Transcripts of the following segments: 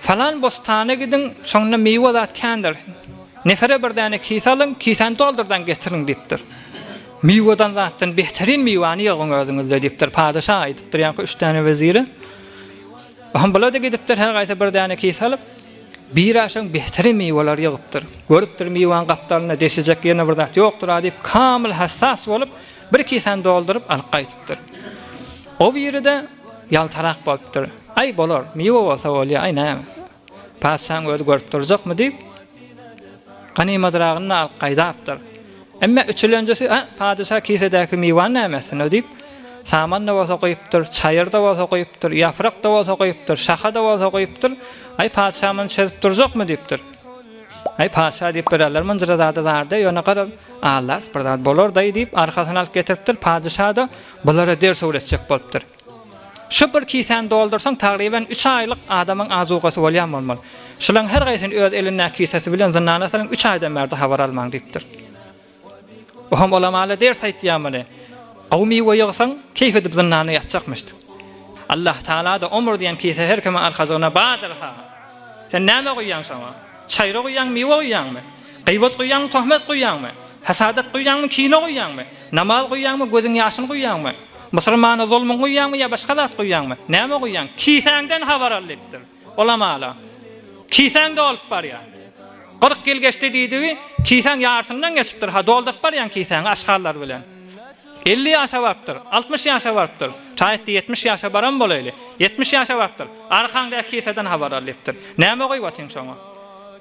Falan bostana gidiň, şonda miwe zat kändir. Nefere bir däne kise alyň, kisäni doldurdan getiriň diýipdir. Miweden zatdan beterin miwäni ýygyň özüňizde diýipdir. Padeşa aýdypdyr ýaňky üç däne wezire. Ohm bulady gidipdir her gaýsy bir däne kise alyp, biraşan beterin miweleri ýygypdyr. Görüpdir miwäni gapdalynda deşijek ýene bir zat ýokdur a diýip kamyl hassas bolup bir kisäni dolduryp alyp gaýdypdyr. O biride. Ýaltarak bolupdyr. Aý, bolar, miwe bolsa bolýar, aý, näme. Patyşaň özi görüp durjakmy diýip, ganymatragyny-da alyp gaýdapdyr. Emme üçülenjesi, A, patyşa kisedäki miwäni näme etsin-ow diýip, saman-da bolsa guýupdyr, çaýyr-da bolsa guýupdyr, ýaprak-da bolsa guýupdyr, şaha-da bolsa guýupdyr, Aý, patyşa muny çözüp durjakmy diýipdir. Aý, patyşa diýip, birazlar mynjyra zada zardy, ýöne garaz, aldat bir zat, bolar-daý diýip, arkasyna alyp getiripdir, patyşa-da Bulara ders öwretjek bolupdyr. Şu bir kisäni doldursaň, tagryban üç aýlyk adamyň azugasy bolýan bolmaly. Şularyň her gaýsyny öz elindäki kisesi bilen zyndana salyň, üç aýdan bärde habar almaň diýipdir. Bu hem olamala ders aýtýar muny. Gowy miwe ýygsaň, keýp edip zyndanda ýatjakmyşdyk. Allah Tagala-da omur diýen kise her kimiň arkajygyna bardyr-ha. Sen näme guýýaň şoňa? Çaýra guýýaňmy, miwe guýýaňmy? Gybat guýýaňmy, töhmet guýýaňmy? Hasadat guýýaňmy, kine guýýaňmy? Namaz guýýaňmy, gözüň ýaşyny guýýaňmy? Musulmana zulmyň guýýaňmy ýa başga zat guýýaňmy? Näme guýýaň? Kisäňden habar al diýipdir. Olam ala. Kisäňde bolup barýar. Kyrk ýyl geçdi diýdigi, kisäň ýarysyndan geçipdir. Ha, dolduryp barýaň kisäňi aşgallar bilen. Elli ýaşa barypdyr, altmyş ýaşa barypdyr. Şaýatdy ýetmiş ýaşa baran bolaýly. Ýetmiş ýaşa barypdyr. Arkaňdaky kiseden habar al diýipdir. Näme guýup atyň şoňa?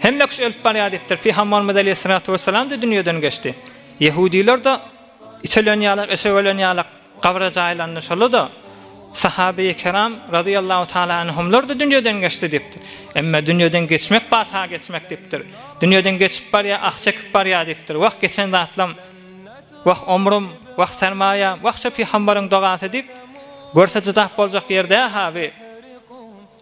Hemme kişi ölüp barýar diýipdir. Pygambarymyz aleýhissalatu wessalam-da dünýeden geçdi. Ýehudylar-da iç ölenýärler, eşek ölenýärler, gabra jaýlandy. Şol-da Sahabeýi kiram razyýallahu taala anhumlar-da dünýeden geçdi diýipdir. Emma dünýeden geçmek bata geçmek diýipdir. Dünýeden geçip barýar, ah çekip barýar diýipdir. Wah geçen zatlam, wah omrüm, wah sermaýam, wah şo pygambaryň dogasy diýip, görse jydap boljak ýer däl-ha bi.